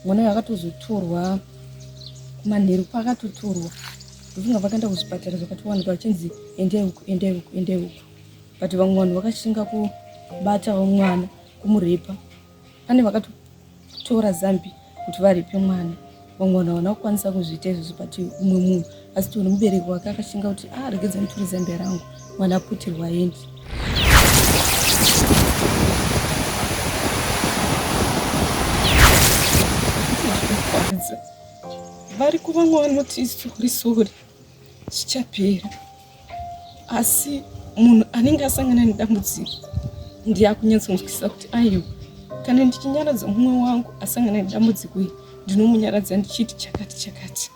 mwana uyu akatozotorwa kumanheru kwaakatotorwa ndofunga vakaenda kuzvipatara zvakatowanika vachinzi endai uku endai uku endai uku but vamwe vanhu vakashinga kubata mwana kumurepa pane vakatotora zambi kuti varipe mwana vamwe vanhu havana kukwanisa kuzviita izvozvo but umwe munhu asi tione mubereki wake akashinga kuti ah, regedza nditori zambia rangu mwana aputirwa aendi vari kuva mwana uti sori sori zvichapera asi munhu anenge asangana nedambudziko ndiye akunyatsonzwisisa kuti aiwa kana ndichinyaradza mumwe wangu asangana nedambudziko iri ndinomunyaradza ndichiti chakati chakati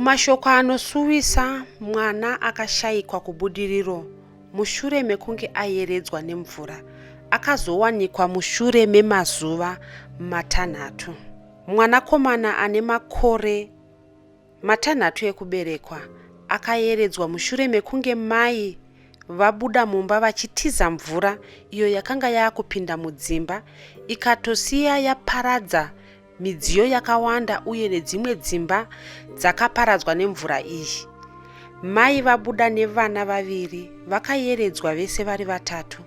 mashoko anosuwisa mwana akashayikwa kubudiriro mushure mekunge ayeredzwa nemvura akazowanikwa mushure memazuva matanhatu mwanakomana ane makore Matanhatu ekuberekwa akayeredzwa mushure mekunge mai vabuda mumba vachitiza mvura iyo yakanga yaakupinda mudzimba ikatosiya yaparadza midziyo yakawanda uye nedzimwe dzimba dzakaparadzwa nemvura iyi mai vabuda nevana vaviri vakayeredzwa vese vari vatatu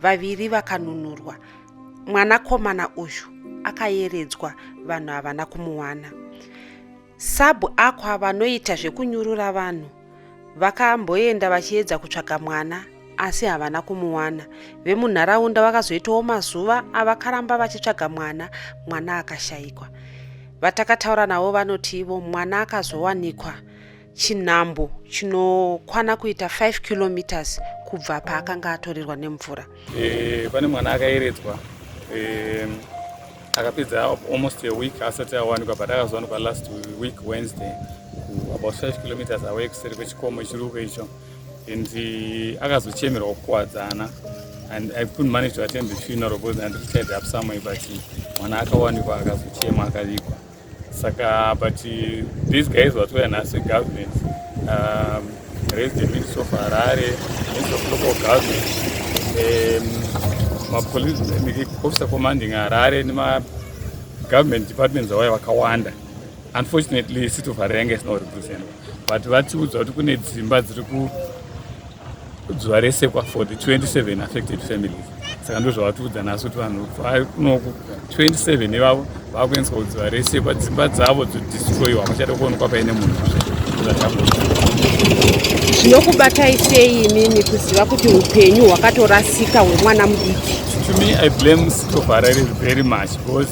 vaviri vakanunurwa mwanakomana uyu akayeredzwa vanhu havana kumuwana Sub Aqua vanoita zvekunyurura vanhu vakamboenda vachiedza kutsvaga mwana asi havana kumuwana. Vemunharaunda vakazoitawo mazuva avakaramba vachitsvaga mwana, mwana akashaikwa. Vatakataura navo vanoti ivo mwana akazowanikwa chinhambo chinokwana kuita 5 kilometers kubva paakanga atorerwa nemvura. Eh, pane mwana akayeredzwa eh, akapedza almost a week asati awanikwa but akazowanikwa last week wednesday about 5 kilometers away kuseri kwechikomo chiruko icho and eh, akazochemerwa kukuwadzana and i couldn't manage to attend the funeral because anditied up someway but mwana akawanikwa akazochema akavigwa saka but these guys vatouya nhasi government um, raised the minister of harare minister of local government um, mapolice officer commanding harare nemagovernment departments awaya vakawanda unfortunately city of harare yanga isina kurepresenta but vatiudza kuti kune dzimba dziri ku zuva rese kwa for the 27 affected families saka ndozvavatiudza naso kuti vanhu vakunoku 27 ivavo vakuendeswa kuzuva rese kwadzimba dzavo dzodistroyiwa vachada kuonekwa paine munhu zvinokubatai sei imimi kuziva kuti upenyu hwakatorasika hwemwana mudiki to me i blame city of harare very much because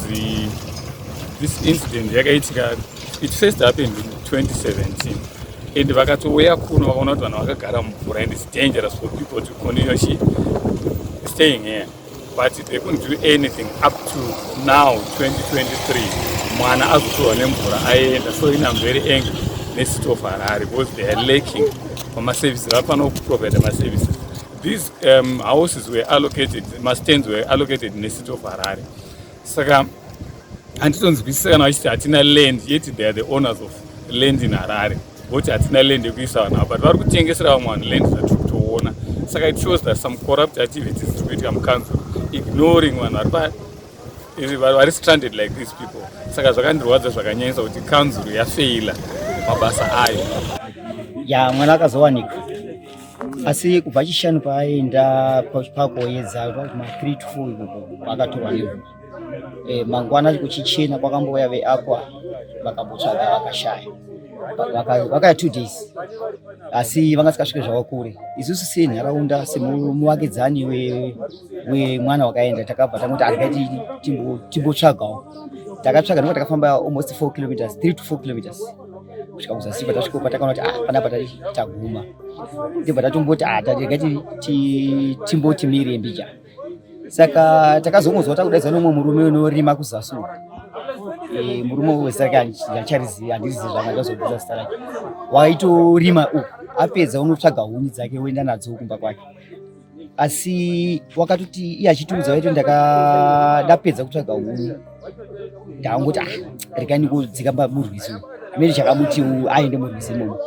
this incident yakaitika it first happened in 2017 and vakatouya kuno vakaona kuti vanhu vakagara mumvura and its dangerous for people to continue she staying here but they couldn't do anything up to now 2023 mwana azotorwa nemvura aenda so in am very angry necity of harare because they are lacking pamaservices vafanira kuprovide maservices these um, houses were allocated mastands were allocated necity of harare saka handitonzwisisa kana vachiti hatina land yet they are the owners of land in harare voti hatina land yekuisa vanhu ava but vari kutengesera vamwe vanhu land zvatiri kutoona saka it shows that some corrupt activities tiri kuitika mucouncil ignoring vanhu vari pa vari stranded like these people saka zvakandirwadza zvakanyanyisa kuti council yafeila mabasa ayo ya mwana akazowanika asi kubva chishanu paaenda pakuoyedza ma three to four akatorwa nevo eh, mangwana kuchichena kwakambouya veakwa vakambotsvaga vakashaya vakaya two days asi vanga sikasvike zvavo kure isusu senharaunda semuvakidzani wemwana wakaenda takabva tangoti angaiti timbotsvagawo takatsvaga nokuti takafamba almost four kilometers three to four kilometers kusvika kuzasi patasvika patakaona kuti ah panapa taguma ndibva tatomboti ah tatirega timboti miri mbija saka takazongozwa takudaidzwa nomwe murume unorima kuzasi e, murume wezita rake handicharizivi handirizivi zvanga ndazobuza zita rake waitorima uku apedza unotsvaga huni dzake woenda nadzo kumba kwake asi wakatoti iye achitiudza vaiti ndakadapedza kutsvaga huni ndakangoti ah rekai ndikudzika murwizi amene chakamuti aende murwizi imomo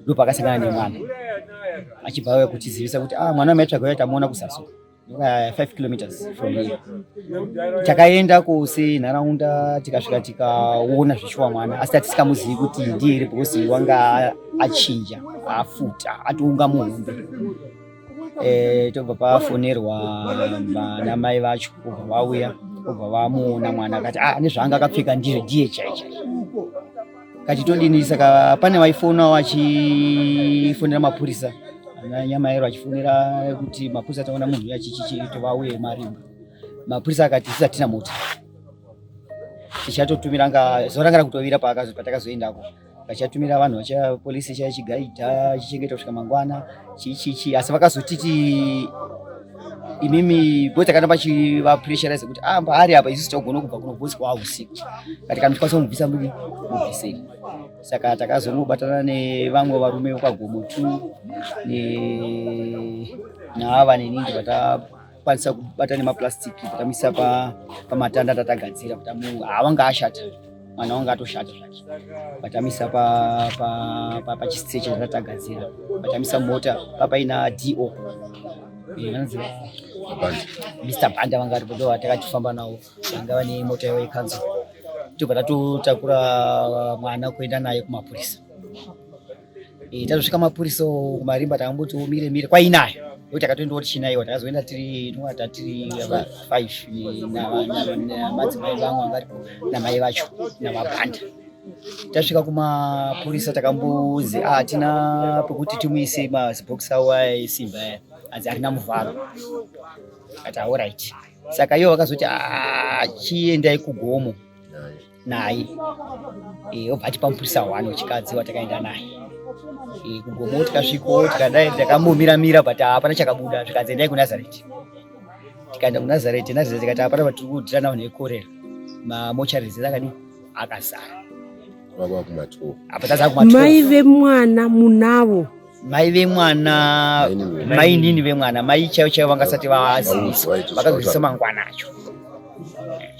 ndopakasangana nemwana achibva auya kutizivisa kuti ah mwana maitsvaga uya tamuona kusaso Eh, five kilometers from here takaenda kose nharaunda tikasvika tikaona zvichiwa mwana asi tatisikamuzii kuti ndiye here because wanga achinja afuta atounga muhombe eh, tobva pafonerwa vanamai vacho kubva vauya kubva vamuona mwana akati ah nezvaanga akapfeka ndizvo ndiye chaicha kati todini saka pane vaifonawo vachifonera mapurisa nyamaero achifonera kuti mapurisa taona munhu uya chichichitovauye marimba mapurisa akati tisatina mota tichatotumira nga zorangana kutovira patakazoendako vachatumira vanhu vacha polisi chaya chigaidha chichengeta kusvika mangwana chichichi asi vakazotiti imimi bota kana vachivapressurize kuti ah mbaari apa isu tichagona kubva kunobvuswa usiku kati kana tikwanisa kumubvisa muri mubvisei saka takazonobatana nevamwe varume vekwagomo two ne naava neningi vata kwanisa kubata nemaplastic takamisa pamatanda pa tatagadzira kuti awanga ah, ashata mwana wanga atoshata zvake patamisa pachistrecha pa, pa, pa tatagadzira patamisa mota papaina do vanonzi mr banda vanga aripo ndo vatakachifamba navo vanga vane mota yavo yekanzuro tobva tatotakura mwana kuenda naye kumapurisa Eh, tazosvika mapurisa kumarimba takamboti umire mire kwainaye ndokuti akatoenda kuti chinaiwa takazoenda tiri tinova tatiri five namadzimai vangu vangaripo namai vacho namabhanda tasvika kumapurisa takambonzi ah, hatina pekuti timuise mazibhokisi awo aesimba aya anzi arina muvharo ati aorit saka iwo vakazoti ah, chiendai kugomo naye eh, obva atipa mupurisa one wechikadzi watakaenda naye eh, kugomo tikasviko tikadai takambomira mira but hapana chakabuda zvikanzi endai kunazareti tikaenda kunazareti nazareti tikati hapana vatiri kudira navo nekorera mamocharies akadii akazara mai vemwana munavo mai vemwana mainini vemwana mai chaivo chaivo vangasati vaziviswa vakazozisa mangwana acho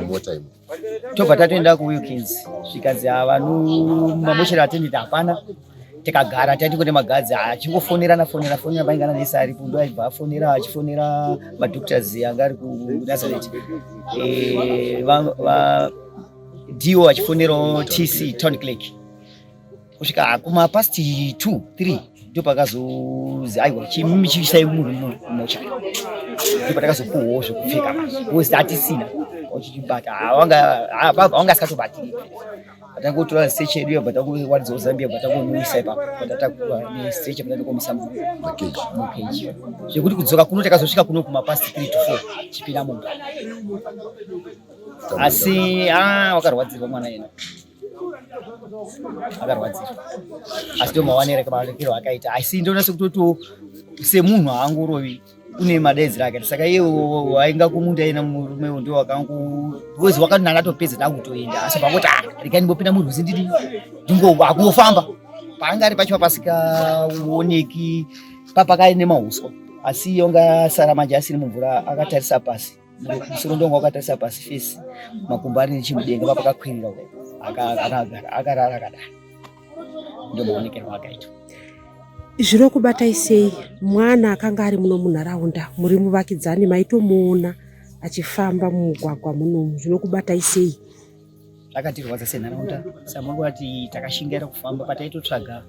mumota imo tobva tatoenda kuwilkins zvikanzi havanu mamoshero atendeti hapana tikagara taiti kuti magadzi achingofonerana fonera fonera vaingana nese ari kundo aibva afonera achifonera madoctors anga ari kunazaret eh, dio achifonerawo tc town click kusvika kuma past 2 3 ndipo pakazozi aiwa chimimi chiisai munhu mumocha ndipo patakazopuwawo zvekupfeka was that isina ochibata awanga awanga asikatobatiri patangotora stage yedu iyo patangowaridzawo zambia patangomuisa ipapo patatakura nestage patandokomisa mukeji zvekuti kudzoka kuno takazosvika kuno kuma past 3 to 4 chipinda mumba asi ah wakarwadzirwa mwana yena akarwadzira asi ndomawanira maonekero akaita asi ndoona sekutotiwo semunhu haangorovi une madaidziro akaita saka iye wainga kumunda ena murume uyu ndo wakangozi wakati nanga atopedza ndakutoenda asi pakoti ah, rekai ndimbopinda murwizi ndiri ndingowakungofamba paanga ari pacho papasikaoneki papakaine mauswa asi yonga sara manje asiri mumvura akatarisa pasi musoro ndonga wakatarisa pasi fesi makumbo ari nechimudenga papakakwirira akarara akadai ndomaonekero akaita zviri kubatai sei mwana akanga ari muno munharaunda muri muvakidzani maitomuona achifamba mumugwagwa munomu zvinokubatai sei zvakatirwadza senharaunda samangoti takashingaira kufamba pataitotsvaga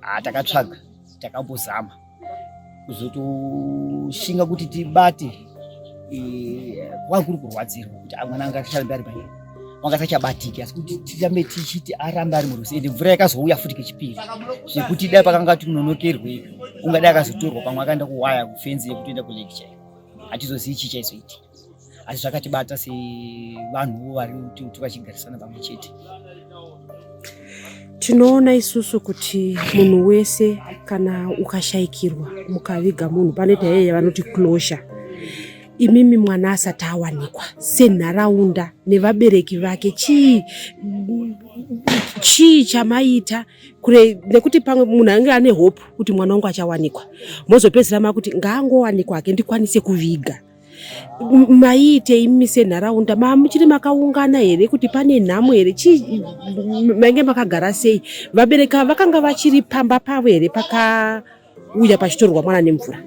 Ah, takatsvaga takambozama kuzotoshinga kuti tibate eh, kwanga kuri kurwadzirwa kuti ah, mwana anga acharambe ari paye wanga asachabatiki asi kuti tirambe tichiti arambe ari murusi ende mvura yakazouya futi kechipiri zvekuti dai pakanga tinonokerwe ungadai akazotorwa pamwe akaenda kuwaya kufenzi yekutoenda kulecture hatizozivi chii chaizoitika asi zvakatibata sevanhuwo vari kuti tikachigarisana pamwe chete tinoona isusu kuti munhu wese kana ukashayikirwa mukaviga munhu panoita yeye vanoti closure imimi mwana asati awanikwa senharaunda nevabereki vake chii chii chamaita kure nekuti pamwe munhu ange ane hope kuti mwana wangu achawanikwa mozopedzisira makuti ngaangowanikwa hake ndikwanise kuviga maiite imi senharaunda mamuchiri makaungana here kuti pane nhamo here chii mainge makagara sei vabereki ava vakanga vachiri pamba pavo here pakauya pachitorwa mwana nemvura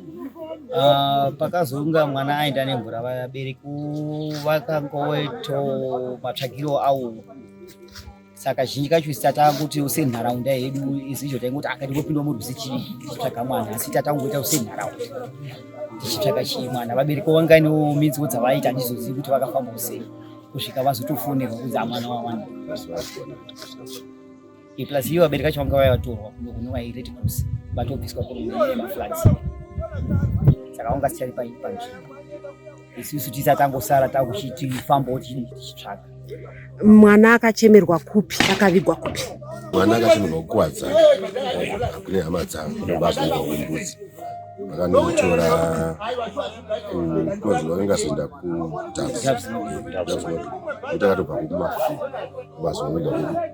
ah, pakazonga mwana aenda nemvura vabereki vakangoito matsvagiro awo saka zhinji kacho sita takuti senharaunda yedu izizvo taingoti akati ngopindwa murwizi chitsvaga mwana asi ita tangoita senharaunda tichitsvaga chii mwana vabereki wanganiwo minziwo dzavaita handizozivi kuti vakafamba kusei kusvika vazotofonerwa kunzi amwana wawana plus iyo vabereki vacho vanga vaya vatorwa kuno vairedi kusi vatobviswa kuno maflats saka vanga sichari panzvimbo isusu tisa tangosara takuchiti famba wotichii tichitsvaga mwana akachemerwa kupi akavigwa kupi mwana akachemerwa kukuwadza kune hama dzangu nobazvaiwa kumbudzi vakanomutora kukozi vakangazoenda kudavs kuti akatobva kumafi kumazoenda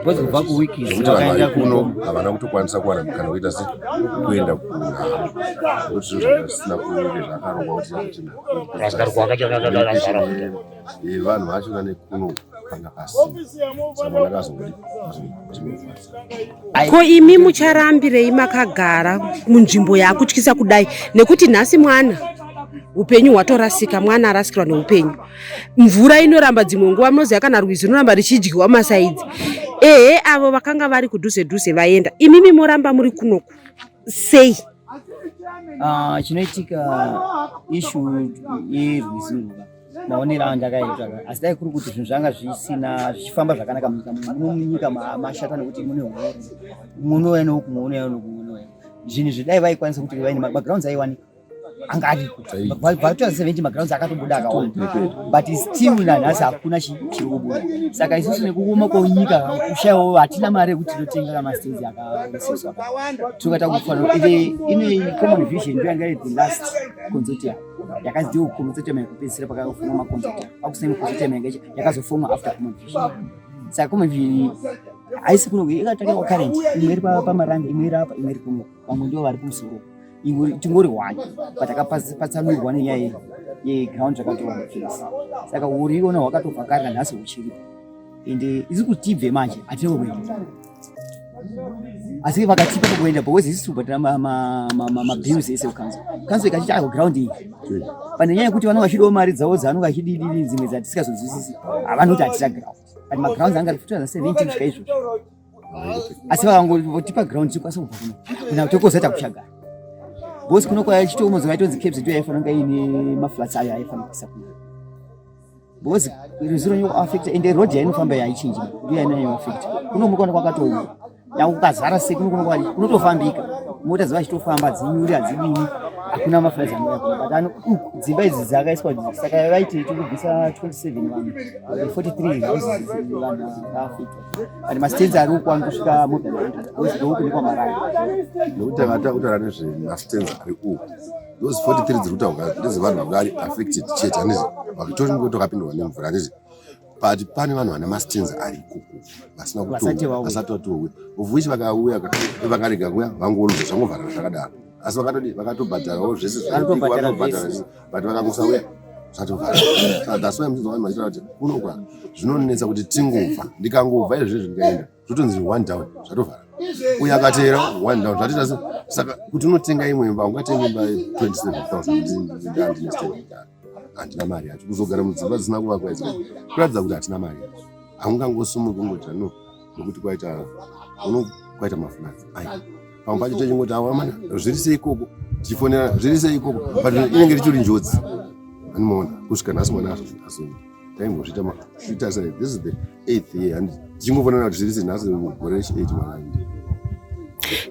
because kubva kuwiki zvekuti vanhu vari kuno havana kutokwanisa kuwana mukana wekuita se kuenda kunokuti zvinhu zvakasina kuve zvakarongwa kuti zvatinaaevanhu vacho nane kuno panga pasina saka vanakazongodi ko imi mucharambirei makagara munzvimbo yakutyisa kudai nekuti nhasi mwana upenyu hwatorasika mwana arasikirwa neupenyu mvura inoramba dzimwe nguva munoziva kana rwizi runoramba richidyiwa masaidzi ehe avo vakanga vari kudhuze dhuze vaenda imimi moramba muri kunoku sei ah, chinoitika ishu yerwizi ruva maonero ayo ndakaitwa asi dai kuri kuti zvinhu zvanga zvisina zvichifamba zvakanaka munyika munyika mashata nekuti mune huori munouya neuku munouya neuku munouya zvinhu zvidai vaikwanisa kuti vaine magrounds aiwanika anga ariko vatoa seventy magrounds akatobuda akaona but still nanhasi hakuna chiri kubuda saka isusu nekuoma kwenyika kushaiwo hatina mari yekuti tinotenga kamastenzi akaisiswa tokata kufanira ine common vision ndoyanga iri the last consortium yakazidiwa kukomba dzotema yekupedzisira pakafunga makonzata pakusema kuzotema yakaita yakazofoma after common vision saka common vision haisi kuno ikatanga kwa current imwe iri pamaranga imwe iri apa imwe iri kuno vamwe ndivo vari kumusoro tingori one but akapatsanurwa nenyaya yeground zvakatova mufesi saka uriona hwakatovhakarira nhasi huchiripo ende isi kutibve manje hatina kuenda asi vakachipa pakuenda because isi tobhadhira mabills ese kukanzo kanzo ikachiti ayo ground iyi pane nyaya yekuti vanenge vachidiwo mari dzavo dzavanenge vachididiri dzimwe dzatisikazonzwisisi havanoti hatisa ground but magrounds anga ari 2017 kusvika izvozvo asi vakangotipa ground tikwanisa kubva kuno kana kuti kozoita kuchagara because kuno kwaichitomozo vaitonzi caps ndiyo yaifanira kunge iine maflats ayo aifanira kuisa kuno because ruziro inoafekta ende road yainofamba yaichinji ndiyo yainenge yoafekta kuno muri kuona kwakatooma yakukazara se kuno kunokwani kunotofambika mota dziva chitofamba dzinyuri hadzidini hakuna mafurazi anouya kuno but ano dzimba idzi dzakaiswa saka vaiti tikubvisa 27 vanhu 43 vanhu vaafekta and mastenzi ari uko anosvika mobile 100 because ndouku nekwamarani nekuti vatautora nezvemastenzi ari uku those 43 dziri kutaurwa ndedzevanhu vanga vari affected chete handizi vakitori ngo tokapindwa nemvura handizi but pane vanhu vane mastenza ari ikoko vasina kutovasati vatowe of which vakauya vakarega kuya vangoonza zvangovharana zvakadaro asi vakatodi vakatobhadharawo zvese zvavanobhadhara but vakangosauya zvatovharana that's why mzvaa kuti kunokwa zvinonetsa kuti tingobva ndikangobva izvezvi ndikaenda zvotonzi one down zvatovhara uye akateera one down zvatiita saka kuti unotenga imwe imba ungatenga imba 27000 handina mari yacho kuzogara mudzimba dzisina kuvakwa idzi kuratidza kuti hatina mari yacho haungangosumuki ungotira no nokuti kwaita uno kwaita mafunadzi ai pamwe pacho techingoti awamana zviri sei ikoko tichifonera zviri sei ikoko but inenge richiri njodzi animoona kusvika nhasi mwana azozvii taingozviita zviita sei this is the eighth year and tichingofanana kuti zviri senhasi gore rechi8 mwana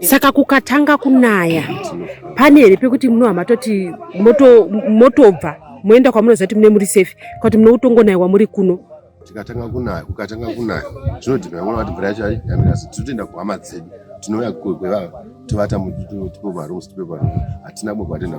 saka kukatanga kunaya pane here pekuti muno hamatoti motobva moenda kwamunoziva kuti mune muri safe kwakuti muno kutongonaiwa muri kuno tikatanga kunaya kukatanga kunaya zvinodhina vamwe vati mvura yacho yamira asi tinotoenda kuhama dzedu tinouya kwevava tovata tipe marooms tipe marooms hatina kumwe kwatenda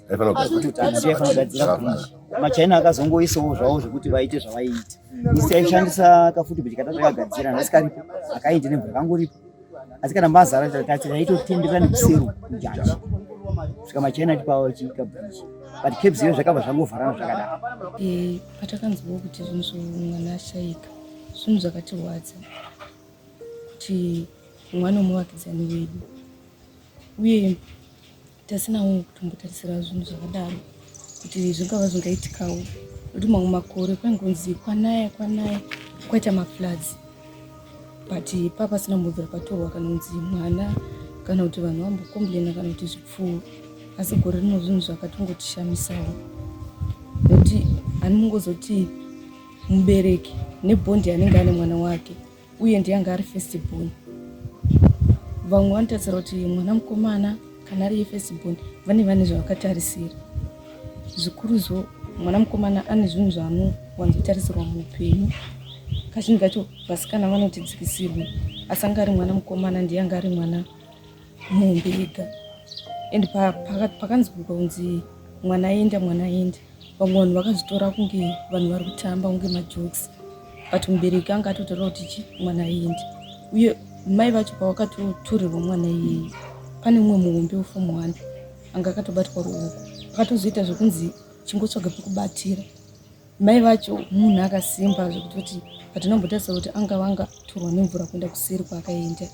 machina akazongoisawo zvavo zvekuti vaite zvavaiita isi aishandisa kafuti kuti kata takagadzira nhasi karipo akaindi nemvura akangoripo asi kana mazara tati taitotenderera nekuseru kujaji svika machina tipawo chikabhichi but cabs iyo zvakabva zvangovharana zvakadaro eh, patakanzwawo kuti zvinhu zvomwana ashaika zvinhu zvakatirwadza kuti mwana womuvakidzani wedu uye tasinawo kutombotarisira zvinhu zvakadaro kuti zvingava zvingaitikawo nokuti mamwe makore kwaingonzi kwanaya kwanaya kwaita mafloods but pa pasina mubvira patorwa kana kunzi mwana kana kuti vanhu vambokomblena kana kuti zvipfuwo asi gore rino zvinhu zvakatongotishamisawo nokuti ani mungozoti mubereki nebhondi anenge ane mwana wake uye ndiye anga ari first born vamwe vanotarisira kuti mwana mukomana kana ari yefirst born vane vane zvavakatarisira zvikuruzvo mwana mukomana ane zvinhu zvaanowanzotarisirwa muupenyu kazhinji kacho vasikana vanotidzikisirwa asi anga ari mwana mukomana ndiye anga ari mwana nhumbi yega and pakanzi kunzi mwana aenda mwana aenda vamwe vanhu vakazvitora kunge vanhu vari kutamba kunge majokes but mubereki anga atotaura kuti chi mwana aenda uye mai vacho pavakatotorerwa mwana iyeyi pane umwe muhombe wefomu one anga akatobatwa ruoko akatozoita zvekunzi chingotsvaga pekubatira Mai vacho munhu akasimba zvekutoti patinombotarisa kuti anga vanga torwa nemvura kuenda kuseri kwaakaenda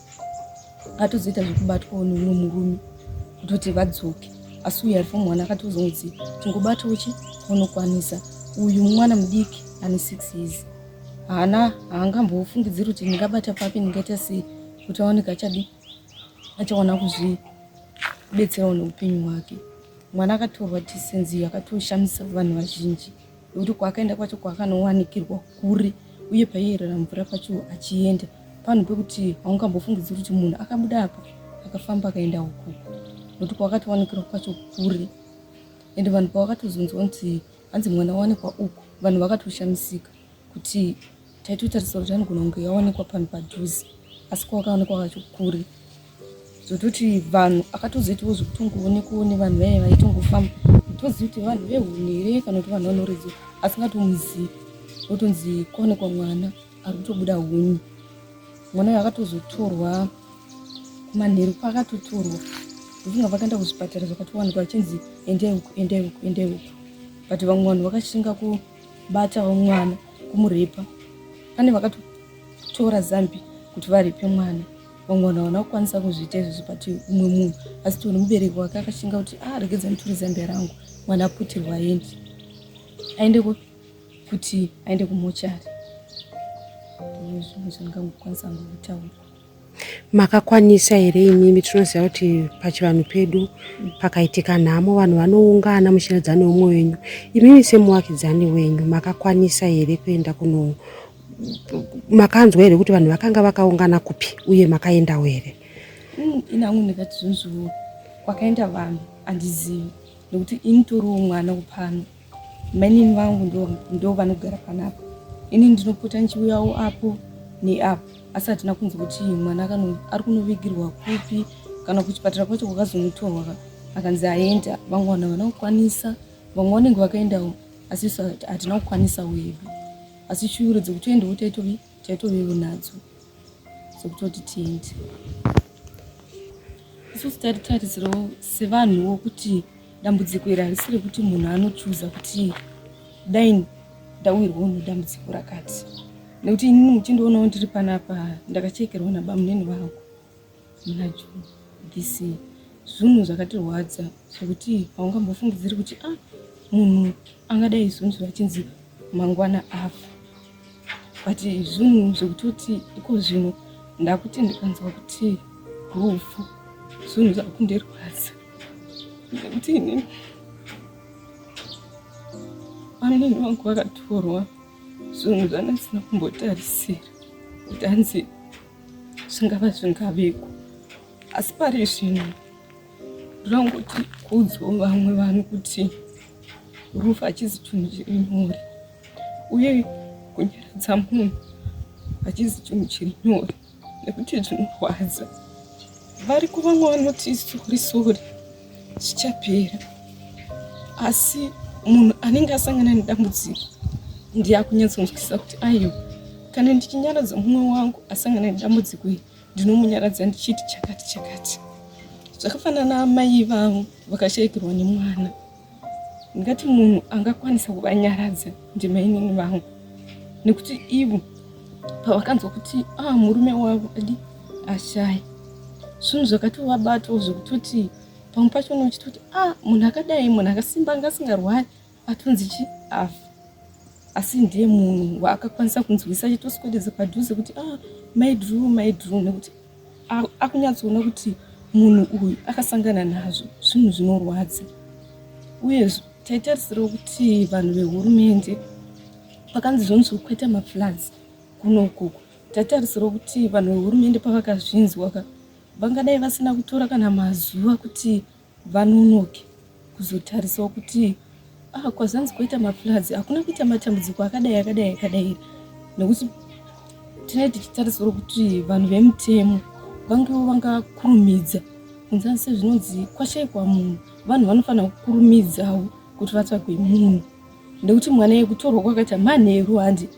atozoita zvekubatwawo neumwe murume kutoti vadzoke asi uyu ari fomwana akatozonzi tingobatawo chi unokwanisa uyu mwana mudiki ane six years haana haangambofungidziri kuti ndingabata papi ndingaita sei kuti aoneke achadi achaona kuzvibetserawo neupenyu hwake Mwana akatorwa decency yakatoshamisa vanhu vazhinji nekuti kwaakaenda kwacho kwaakanowanikirwa kuri uye paiyerera mvura pacho achienda panhu pekuti haungambofungidziri kuti munhu akabuda apa akafamba akaenda uku nokuti kwakatowanikirwa kwacho kuri ende vanhu pavakatozonzwa kuti hanzi mwana wawanikwa uku vanhu vakatoshamisika kuti taitotarisira kuti anogona kunge yawanikwa panhu padhuze asi kwakawanikwa kacho kuri zototi vanhu akatozoitawo zvekutongoonekwoo nevanhu vaye vaitongofamba tozivi kuti vanhu vehuni here kana kuti vanhu vanoridza asingatomuzivi otonzi kwaonekwa mwana ari kutobuda huni mwana uyo akatozotorwa kumanheru kwaakatotorwa ndofunga vakaenda kuzvipatara zvakatowanikwa achinzi endai uku endai uku endai uku but vamwe vanhu vakashinga kubatawo mwana kumurepa pane vakatotora zambi kuti varipe mwana vamwe vanhu havana kukwanisa kuzviita izvozvo but umwe munhu asi tione mubereki wake akashinga kuti a ah, regedza nditure zambia rangu mwana aputirwa aende aende kuti aende kumochari ndozvimwe zvandingangokwanisa hangu kutaura makakwanisa here imimi tinoziva kuti pachivanhu pedu pakaitika nhamo vanhu vanoungana muchiratidza neumwe wenyu imimi semuvakidzani wenyu makakwanisa here kuenda kuno makanzwa here kuti vanhu vakanga vakaungana kupi uye makaendawo here mm, inangu ndikati zvonzvoo kwakaenda vanhu handizivi nekuti ini toriwo mwana kupano mainini vangu ndo vanogara panapa ini ndinopota ndichiuyawo apo neapo asi hatina kunzwa kuti mwana ari kunovigirwa kupi kana kuchipatara kwacho kwakazomutorwa akanzi aenda vamwe vanhu havana kukwanisa vamwe vanenge vakaendawo asi isu hatina kukwanisawo yedu asi shuviro dzekutoendawo taitovevo nadzo dzekutoti tiende isusu taititarisirawo sevanhuwo kuti dambudziko iri harisi rekuti munhu anochuza kuti dai ndawirwawo nedambudziko rakati nekuti inini muchindionawo ndiri panapa ndakachekerwa nabamunini vangu Mlajo, DC zvunhu zvakatirwadza zvekuti haungambofungidziri kuti ah munhu angadai izunzura achinzi mangwana afa but zvunhu zvekutoti iko zvino ndakuti ndikanzwa kuti rufu zvunhu zvakundirwadza nekuti ini amnini vangu vakatorwa zvunhu zvanasina kumbotarisira kuti anzi zvingava zvingaveko asi pari zvino ndinongoti kuudzwo vamwe vanhu kuti rufu hachizi chinhu chiri nyore uye kunyaradza munhu hachizi chinhu chiri nyore nekuti zvinorwadza vari kuvamwe vanoti sori sori zvichapera asi munhu anenge asangana nedambudziko ndiye akunyatsonzwisisa kuti aiwa kana ndichinyaradza mumwe wangu asangana nedambudziko iri ndinomunyaradza ndichiti chakati chakati zvakafanana amai vangu vakashaikirwa nemwana ndingati munhu angakwanisa kuvanyaradza ndimainini vangu nekuti ivo pavakanzwa kuti a ah, murume wavo adi ashaya zvinhu zvakatovabatawo zvekutoti pamwe pacho unochiti kuti a ah, munhu akadai munhu akasimba anga asingarwari atonzi chi afa asi ndiye munhu waakakwanisa kunzwisa achitoswededza padhuze kuti a ah, maidru maidru nekuti akunyatsoona kuti munhu uyu akasangana nazvo zvinhu zvinorwadza uyezvo taitarisirawo kuti vanhu vehurumende pakanzi zvonzi kuita mafloods kuno ukoko taitarisirawo kuti vanhu vehurumende pavakazvinzwa ka vangadai vasina kutora kana mazuva kuti vanonoke kuzotarisawo kuti ah, kwazanzi kwaita mafloods hakuna kuita matambudziko akadai akadai akadai here nekuti tinee tichitarisirwa kuti vanhu vemutemo vangewo vangakurumidza kunzani sezvinonzi kwashaikwa munhu vanhu vanofanira kukurumidzawo kuti vatsvagwe munhu nekuti mwana yekutorwa kwakaita manheru handi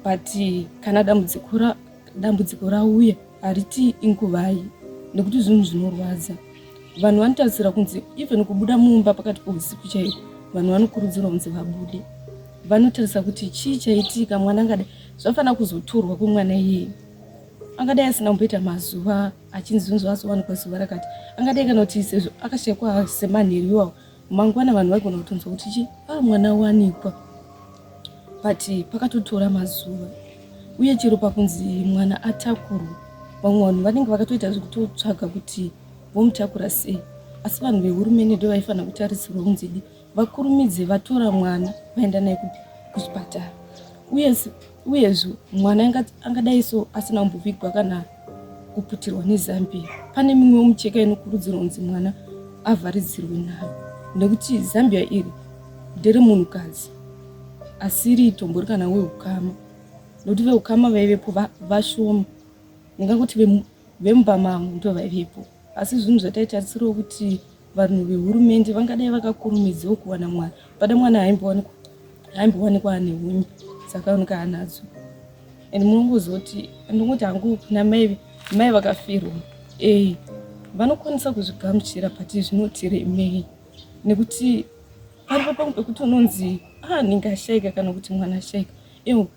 but kana dambudziko rauya Hariti inguvai nekuti zvinhu zvinorwadza. Vanhu vanotarisira kunzi even kubuda mumba pakati pousiku chaiko vanhu vanokurudzirwa kunzi vabude. Vanotarisa kuti chii chaitika mwana angadai zvafanira kuzotorwa kwemwana iyeye. Angadai asina kumboita mazuva achinzi zvinhu zvaazowanikwa zuva rakati. Angadai kana kuti sezvo akashekwa semanheru iwawo Mangwana vanhu vaigona kutonzwa kuti chi a ah, mwana wanikwa but pakatotora mazuva uye chero pakunzi mwana atakurwa vamwe vanhu vanenge vakatoita zvekutotsvaga kuti vomutakura sei asi vanhu vehurumende ndo vaifanira kutarisirwa kunzidi vakurumidze vatora mwana vaenda naye kuchipatara uye Uyezve mwana angadai so asina kumbovigwa kana kuputirwa nezambiya. Pane mimwe micheka inokurudzirwa kunzi mwana avharidzirwe nayo nekuti zambiya iri ndere munhukadzi asiri itombori kana weukama nokuti veukama vaivepo vashoma ndingangoti vemumba mangu ndo vaivepo. asi zvinhu zvataitarisirawo kuti vanhu vehurumende vangadai vakakurumidzawo kuwana mwana pada mwana haimbowanikwa haimbowanikwa ane hunye dzakaoneka hanadzo and munongozoti ndingoti hangu kuna mai mai vakafirwa e vanokwanisa kuzvigamuchira but zvinotiremei nekuti paripo pamwe pekuti unonzi ah ndingashaika kana kuti mwana ashaika ewo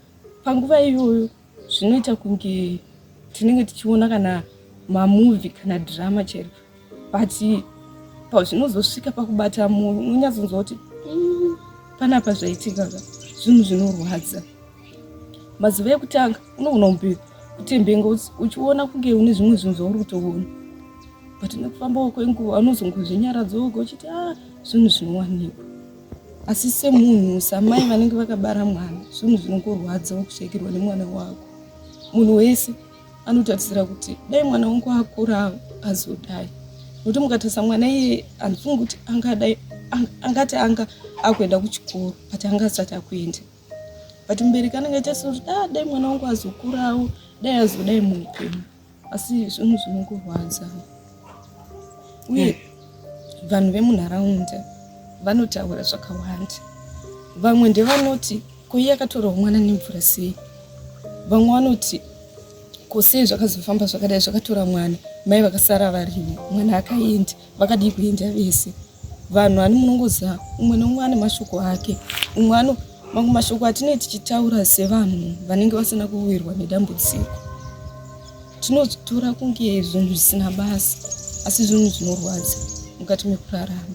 panguva iyoyo zvinoita kunge tinenge tichiona kana mamuvi kana drama chero but pazvinozosvika pakubata munhu unonyatsonzwa kuti mm, panapa zvaitika ka zvinhu zvinorwadza mazuva ekutanga unogona kumbe kutembenga uchiona kunge une zvimwe zvinhu zvauri kutoona but nekufambawo kwenguva unozongozvinyaradza woga uchiti a ah, zvinhu zvinowanikwa asi semunhu samai vanenge vakabara mwana zvinhu zvinongorwadza kushaikirwa nemwana wako munhu wese anotarisira kuti dai mwana wangu akurawo azodai nokuti mukatarisa mwana iye handifungi kuti angadai angati anga akuenda kuchikoro but anga asati akuenda but mubereki anenge achaisira kuti da ah, dai mwana wangu azokurawo dai azodai muupenyu asi zvinhu zvinokurwadza uye eh. vanhu vemunharaunda vanotaura zvakawanda vamwe ndevanoti koiye akatorwa mwana nemvura sei vamwe vanoti kosei zvakazofamba zvakadai zvakatora mwana mai vakasara varimo mwana akaenda vakadii kuenda vese Vanhu ani munongoziva umwe neumwe ane mashoko ake. Umwe ano mamwe mashoko atinee tichitaura sevanhu vanenge vasina kuwirwa nedambudziko. Tinozvitora kunge zvinhu zvisina basa asi zvinhu zvinorwadza mukati mekurarama.